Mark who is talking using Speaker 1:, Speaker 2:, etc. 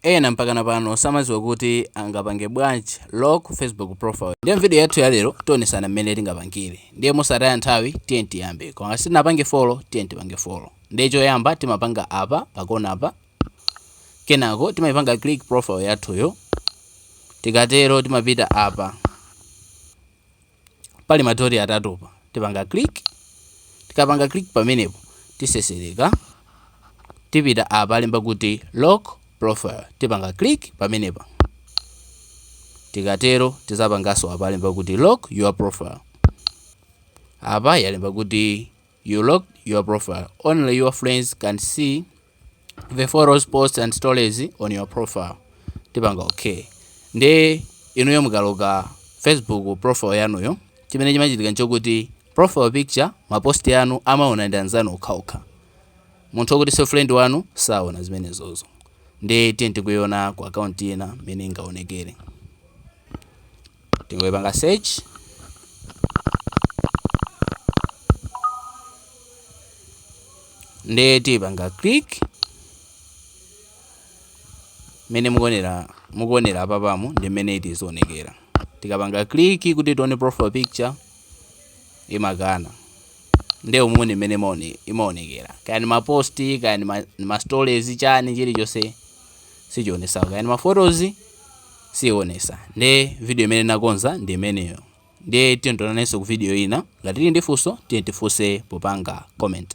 Speaker 1: Ena mpakana pano samaziwa kuti angapange bwanji lock facebook profile ndiye mvideo yathu yalero tionesana mmene tingapangile ndiye mosataya nthawi tiyeni tiyambe koma ngati sitinapange follow tiyeni tipange follow ndiye choyamba timapanga apa pakonapa kenako timaipanga click profile yathuyo tikatero timapita apa Pali ma dot atatupa. Tipanga click. Tikapanga click pamenepo tisesereka. Tipita apa alemba kuti lock profile. Tipanga click pamenepa. Tikatero tizapangaso apa alemba kuti lock your profile. Apa yalemba kuti You lock your profile. Only your friends can see the photos, posts and stories on your profile. Tipanga okay. Nde inuyo mukaloka Facebook profile yanuyo chimene chimachitika nchokuti profile picture mapost yanu amaona ndi anzanu okhaokha munthu okuti so friend wanu saona zimenezozo ndi tiyeni tikuiona ku akaunti ina mmene ingaonekere Tingoipanga search. Nde tipanga click. Mene mukuonera apapa umu ndi mene izizionekera. Tikapanga click kuti tione profile picture imakana. Nde umu ndi mene imaonekera. Kaya ni ma post, kaya ni ma stories chani chilichonse sichionesa. Kaya ni ma photos siionesa nde video imene nakonza ndi imeneyo ndiye tiyeni tionanenso ku video ina ngati tili ndi funso tiyeni tifunse popanga comment.